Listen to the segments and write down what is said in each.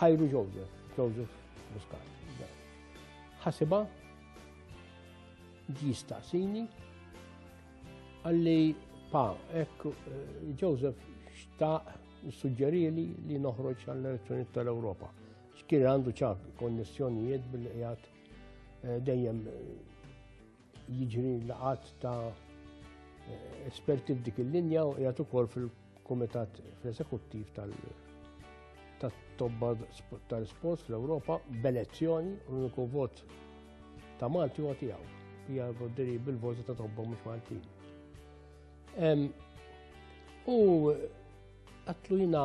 Ħajru Joseph, Joseph Muscat. Ħasiba jistaqsini għalli pa, ekk eh, Joseph xtaq suġġerili li noħroġ għall-elezzjoni tal-Ewropa. Xkien għandu ċak konnessjonijiet bil-qijat eh, dejjem eh, Jiġri laqat ta' esperti f'dik il-linja u jgħat ukoll fil-Kumitat fl-Esekuttiv tal-Tobba tal-Sports fl-Ewropa b'elezzjoni u l-uniku vot ta' Malti u għatijaw. Hija voddiri bil-voti ta' tobba mhux Maltin. U għatlu jina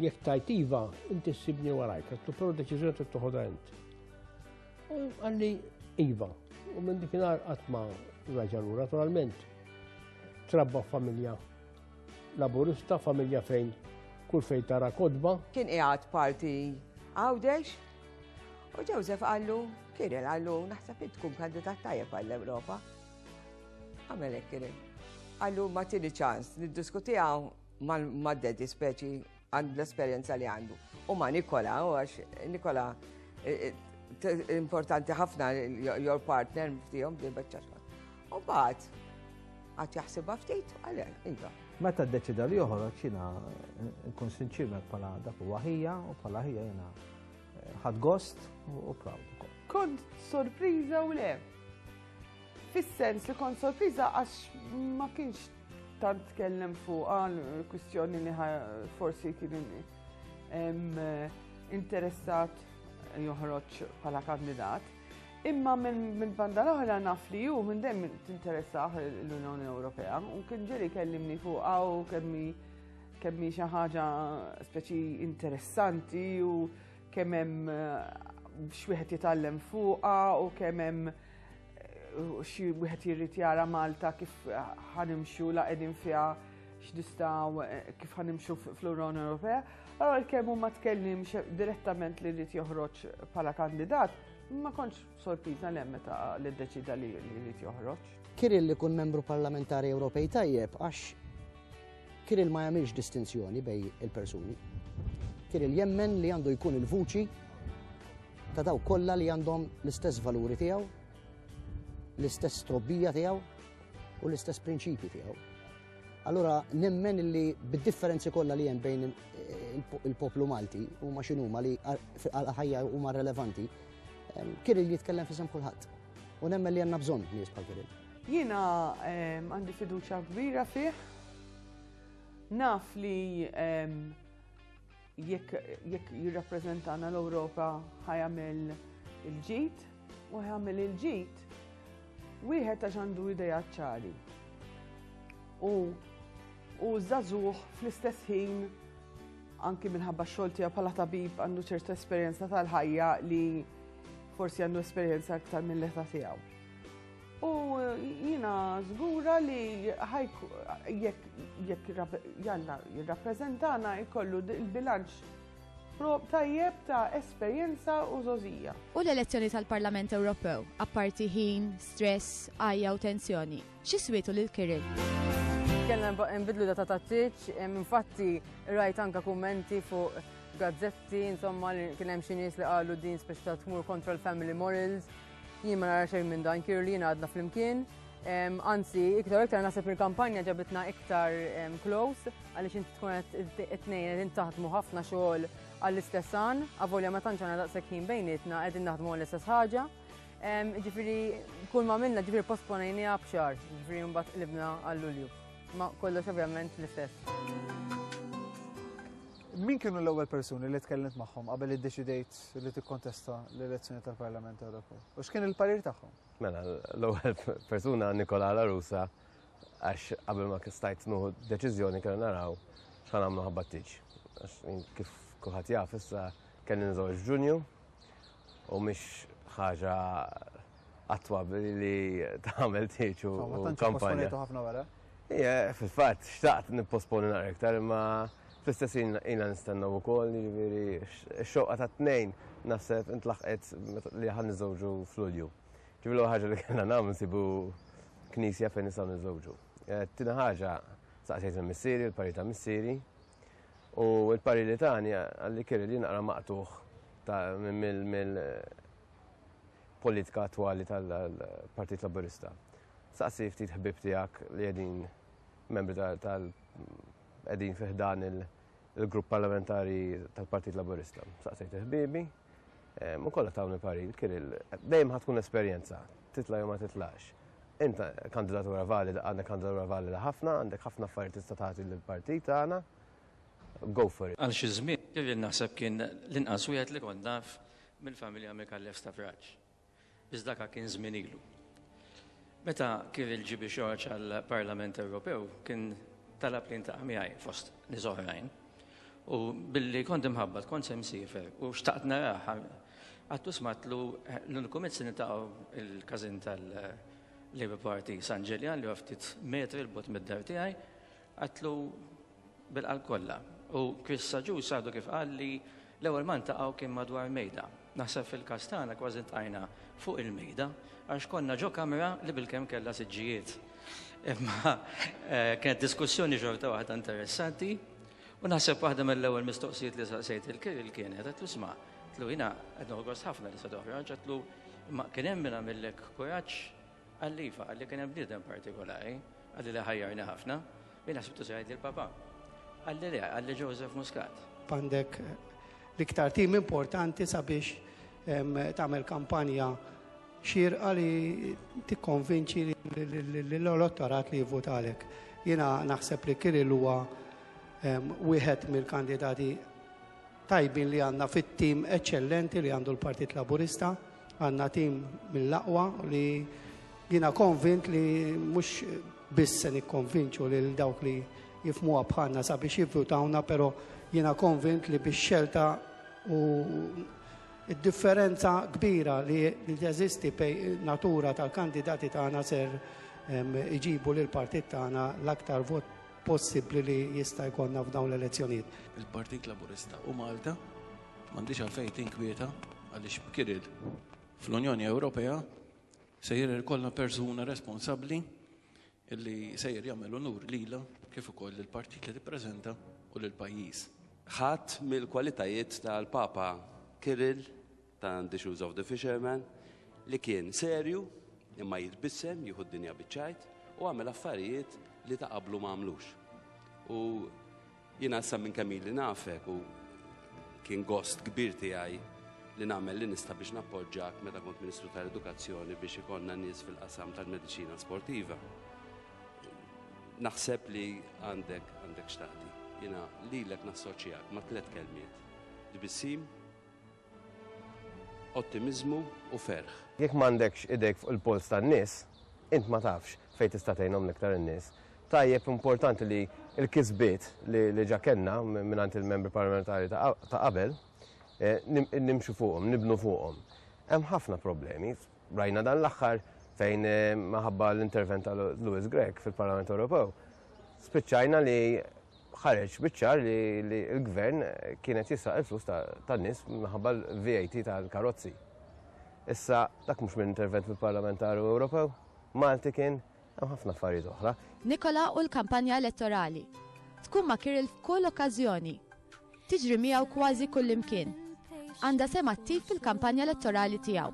jek tajtiva, inti s-sibni warajk, għatlu pero deċizjoni t-tuħoda inti. U għalli Iva, u minn dikinar għatma raġanu, naturalment, trabba familja laburista, familja fejn kull fejn tara kodba. Kien iħat parti għawdex, u Joseph għallu, kien għallu, naħseb tkun kandidat tajjeb għall-Ewropa. Għamelek kien. Għallu ma tini ċans, niddiskuti għaw ma' dedi speċi Għand l-esperjenza li għandu. U ma Nikola, u għax Nikola eh, eh, importanti ħafna your partner ftijom di bħċaċma. U bat, għat jaħsibha ftit, għale, inta. Meta d-deċida li joħroġ jina nkun sinċirmek pala dak u għahija u pala ħija jina eh, ħad gost u proud. Kont sorpriza u le. Fis-sens li kont sorpriza għax ma kienx Tant tkellem fuqha l-kwistjoni li forsi kien interessat joħroġ bħala kandidat. Imma minn banda l-oħra naf li ju minn dem tinteressaħ l-Unjoni Ewropea u kien ġeli kellimni fuq għaw kemmi kemmi xi ħaġa speċi interessanti u kemm hemm eh, xwieħed jitgħallem fuqha u kemm hemm Xi wieħed jirrid jara Malta kif ħanimxu la qegħdin fiha x'nistgħu eh, kif ħanimxu fl-Unjoni Ewropea. Allora l-kemm huma tkellim direttament li rrid joħroġ bħala kandidat, ma kontx sorpriża lem meta li ddeċida li jrid joħroġ. Kirill li kun membru parlamentari Ewropej tajjeb għax Kirill ma jagħmilx distinzjoni bejn il-persuni. Kirill jemmen li għandu jkun il-vuċi ta' dawk kollha li għandhom l-istess valuri tiegħu, l-istess trobbija tiegħu u l-istess prinċipji tiegħu. Allora nemmen li bid-differenzi kollha li hemm bejn il-poplu Malti huma x'inhuma li għal ħajja huma relevanti, Kirill jitkellem fisem kulħadd. U nemmen li għandna bżonn nies bħal Kirill. Jiena għandi fiduċja kbira fih. Naf li jekk jirrappreżentana l-Ewropa ħajamel il-ġid u ħajamel il-ġid wieħed għax għandu ideja ċari. U u żagħżugħ fl-istess ħin anki minħabba xogħol tiegħu bħala tabib għandu ċertu esperjenza tal-ħajja li forsi għandu esperjenza aktar mill-età tiegħu. U jina zgura li jekk jalla jirrappreżentana jkollu il-bilanċ tajjeb ta' esperjenza u zozija. U l-elezzjoni tal-Parlament Ewropew, apparti ħin, stress, għajja u tensjoni, xiswitu lil Kirill? Kellna nbidlu data ta' tiċ, infatti rajt anka kummenti fuq gazzetti, insomma, kien hemm xi nies li qalu din speċta tmur kontra l-family morals, Jien ma nara xejn minn dan kir li jien għadna flimkien. Anzi, iktar iktar naħseb il-kampanja ġabitna iktar close għaliex inti tkun qed it-tnejn qegħdin taħdmu ħafna xogħol għall-istess għan, avolja ma tantx għandna daqshekk ħin bejnietna qegħdin naħdmu għall-istess ħaġa. Ġifieri kull ma minna ġifieri posponejniha b'xar, ġifieri mbagħad qlibna għall-Lulju. Ma kollox ovvjament l-istess. Min kienu l-ewwel persuni li tkellimt magħhom qabel iddeċidejt li tikkontesta l-elezzjoni tal-Parlament Ewropew? U x'kien il-parir tagħhom? Mela, l-ewwel persuna Nikola Larusa għax qabel ma kistajt nuħu deċiżjoni kellna naraw x'ħan għamlu ħabba tiġ. Għax kif kulħadd jaf issa kelli nżewġ Ġunju u mhix ħaġa Attwa li tagħmel tieġ u kampanja. ħafna wara. Ija, fil-fatt, xtaqt nipposponi naqra iktar, imma fl-istess jina nistennaw u koll, jiviri, xoqqa ta' t-nejn nasib intlaħqet li ħan nizawġu fl-ulju. Ġivlu ħagġa li kena nam nsibu knisja fejn nisaw nizawġu. Eh, tina ħagġa, saqsejt il-missiri, il-pari ta' missiri, u il-pari li tani għalli kiri li naqra maqtuħ ta' mill politika attwali tal-Partit Laburista. Saqsi ftit ħbieb tiegħek li qegħdin membri tal qegħdin fi ħdan il-grupp parlamentari tal-Partit Laburista. Saqsejt ħbiebi, u kollha tawni parir, Kiril, dejjem ħad tkun esperjenza, titla' jew ma titlax. Inta kandidatura valida, għandek kandidatura valida ħafna, għandek ħafna affarijiet tista' tagħti lill-partit tagħna. Go for it. Għal xi żmien Kiril naħseb kien l-inqas wieħed li kont naf mill-familja Micallef Stafraġ, biss daka kien żmien ilu. Meta kif il-GB Xorġ għall-Parlament Ewropew kien talab li ntaqa' miegħi fost nies oħrajn u billi kont imħabbat kont se msiefer u xtaqt narah għattu smatlu l-uniku mezz nitaqgħu il-każin tal-Labour Party San Ġeljan li ftit metri l-bot mid-dar tiegħi Qatlu bil-qalb kollha u Chris Saġus għadu kif qal li l-ewwel ma ntaqgħu kien madwar mejda. Naħseb fil-każ tagħna kważi ntqajna fuq il-mejda għax konna ġo kamra li bilkemm kellha siġġijiet. Imma eh, kienet diskussjoni xorta waħda interessanti u naħseb waħda mill-ewwel mistoqsijiet li saqsejt il-kiril kienet qed tisma' tlu jiena qed noħgos ħafna li se toħroġ, tlu ma kien hemm minn għamillek kuraġġ Qalli iva, qalli kien hemm bniedem partikolari, qalli li ħajjarni ħafna, jiena ħsibtu se jgħidli l-Papa. Qalli le, qalli Joseph Muscat. Għandek l-iktar tim importanti sabiex tagħmel kampanja xirqa li tikkonvinċi l-elettorat li jivvotalek. Jiena naħseb li Kirill huwa wieħed mill-kandidati tajbin li għandna fit-tim eċċellenti li għandu l-Partit Laburista. Għandna tim mill-aqwa li jiena konvint li mhux biss se nikkonvinċu lil dawk li jifhmuha bħalna sabiex jivvutawna però jiena konvint li bix-xelta u d-differenza kbira li teżisti bejn in-natura tal-kandidati tagħna ser iġibu lill-partit tagħna l-aktar vot possibbli li jista' jkollna f'dawn l-elezzjonijiet. Il-Partit Laburista u Malta M'għandhiex għalfejn tinkwieta għaliex b'kiri fl-Unjoni Ewropea sejjer ikollna persuna responsabbli li sejjer jagħmel unur lilha kif ukoll lill-partit li tippreżenta u lill-pajjiż. Ħadd mill-kwalitajiet tal-Papa Kirill ta' The Shoes of the Fisherman li kien serju imma jitbissem, jieħu d-dinja biċ-ċajt u għamel affarijiet li ta' qablu ma għamlux. U Jiena sa minn kemm ili nafek u kien gost kbir tiegħi li nagħmel li nista' biex nappoġġak meta kont Ministru tal-Edukazzjoni biex ikonna nies fil-qasam tal-mediċina sportiva. Naħseb li għandek għandek xtaqdi. Jiena lilek nassoċjak ma' tliet kelmiet. Tbissim, ottimiżmu u ferħ. Jekk m'għandekx idejk fuq il-polz tan-nies, int ma tafx fejn tista' tgħinhom l-iktar in-nies. Tajjeb u importanti li l-kisbiet li ġa kellna mingħand il-Membri Parlamentari ta' qabel, nimxu fuqhom, nibnu fuqhom. Hemm ħafna problemi, Rajna dan l-aħħar fejn maħabba l-intervent ta' Louis Grech fil-Parlament Ewropew. Spiċċajna li ħareġ biċċar li l-gvern kienet jisraq il-flus ta' nis maħabba l-VAT tal-karozzi. Issa, dak mhux minn intervent fil-Parlament Ewropew, Malti kien Hemm ħafna affarijiet oħra. Nikola u l-kampanja elettorali. Tkun ma' Kirill f'kull okkażjoni. Tiġri miegħu kważi kullimkien. Għandha sem attiv fil-kampanja elettorali tiegħu.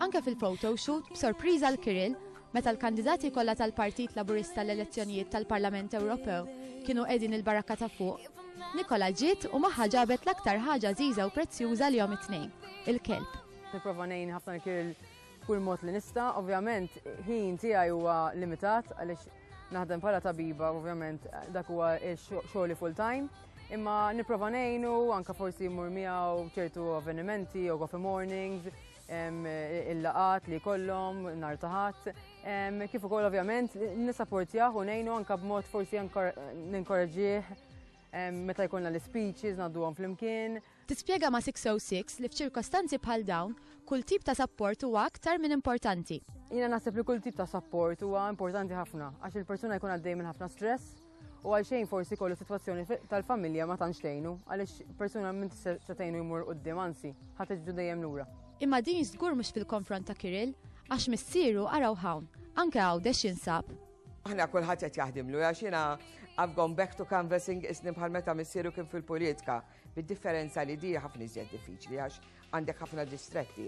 Anke fil-photo shoot b'sorpriża l Kirill meta l-kandidati kollha tal-Partit Laburista l-elezzjonijiet tal-Parlament Ewropew kienu qegħdin il-barakka ta' fuq, Nikola ġiet u magħha ġabet l-aktar ħaġa żiża u prezzjuża li jom it-tnejn, il-kelb. Nipprova ngħin ħafna l-kiril B'kull mod li nista', ovvjament ħin tiegħi huwa limitat għaliex naħdem bħala tabiba, ovvjament dak huwa xogħli full time. Imma nipprova ngħinu anke forsi mmur miegħu ċertu avvenimenti jew coffee mornings, il-laqat li kollom, nar taħat, kif ukoll ovvjament nisapportjaħ u ngħinu anke b'mod forsi ninkoraġġih meta jkollna l-speeches, naddu għom fl-imkien, Tispjega ma' 606 li f'ċirkostanzi bħal dawn, kull tip ta' sapport huwa aktar minn importanti. Jiena naħseb li kull tip ta' sapport huwa importanti ħafna għax il-persuna jkun għaddej minn ħafna stress u għalxejn forsi kollu sitwazzjoni tal-familja ma tantx tgħinu għaliex persuna minn se tgħinu jmur quddiem anzi ħadd iġġu dejjem lura. Imma din żgur mhux fil-konfront ta' Kirill għax missieru araw hawn, anke Għawdex jinsab. Aħna kulħadd qed jaħdimlu għax jiena I've gone back to canvassing isni bħal meta missieru kien fil-politika. Bid-differenza li di ħafna iżjed diffiċli għax għandek ħafna distretti.